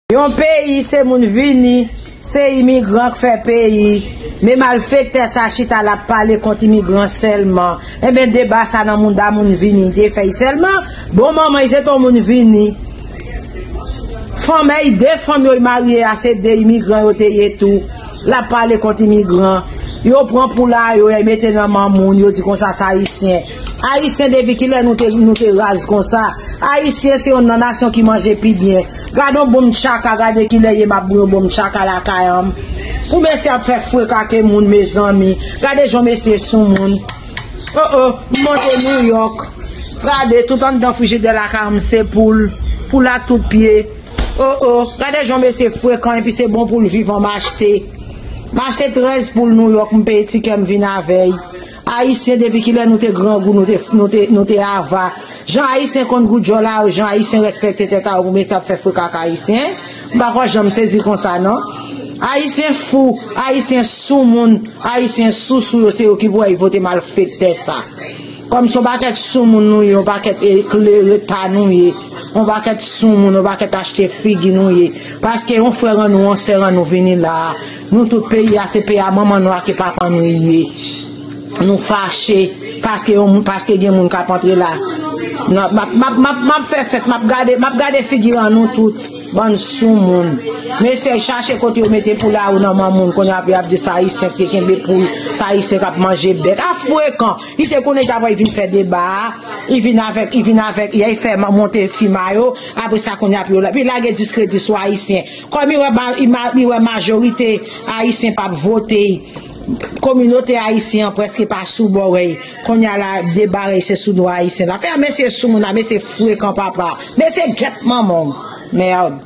Yon peyi se moun vini, se imigran k fè peyi, men malfektè sa chita lap pale kont imigran sèlman, enben deba sa nan mouda moun vini li te fèy sèlman, bon manman y se ton moun vini, fanmey 2 fanm yo y marye a se 2 imigran yo te ye tou, lap pale kont imigran, yo pran poula yo y mete nan mamoun yo di konsa sa ayisyen. Ayisyen depi kilè nou te nou te raz konsa ayisyen se yon nan nasyon ki manje pi byen gadon bonm tchaka gade kilè ye map bouyon bonm tchaka lakayanm pou mesye ap fè frek ake moun mezanmi gade jan mesye sou moun oh oh m monte new york gade tout anndan frijidè lakayanm se poul poul a tout pye oh oh gade jan mesye frekan epi se bon poul vivan m achte m achte 13 poul new york m peye tikèm vin avèy. Ayisyen depi kilè nou te grangou nou te ava jan ayisyen konn gou djòl a yo jan ayisyen rèspèkte tèt a yo pou mesye ap fè freka ak ayisyen m pa kwè janm sezi konsa non ayisyen fou ayisyen sou moun ayisyen sou sou yo se yo ki pou èy vote malfektè sa kòm son pakèt sou moun nou ye yon pakèt ekle reta nou ye yon pakèt sou moun yon pakèt achte figi nou ye paske yon frè rannou yon sè rannou vini la Nou tout peyi a se peyi a manman nou ake papa nou li ye nou fache paske yon moun paske gen moun kap antre la nan map map map map fè fèt map gade map gade figiran nou tout bann sou moun mesye chache kote yo mete pou lari nan man moun kounye a pou yap di sa ayisyen te kenbe poul sa ayisyen kap manje bèt a frekan li te konnen ta pral vin fè deba a li vin avèk li vin avèk yay fè monte fima yo apresa kounye a pou yo la pou lage diskredi sou ayisyen. Kòm li wè majorite Ayisyen pap vote, kominote Ayisyen an prèske pa sou bò rèy. Kounye a la, deba rèy se sou dwa Ayisyen la fè. Mesye sou moun a, mesye frekan papa. Mesye gèt manman w. Merd.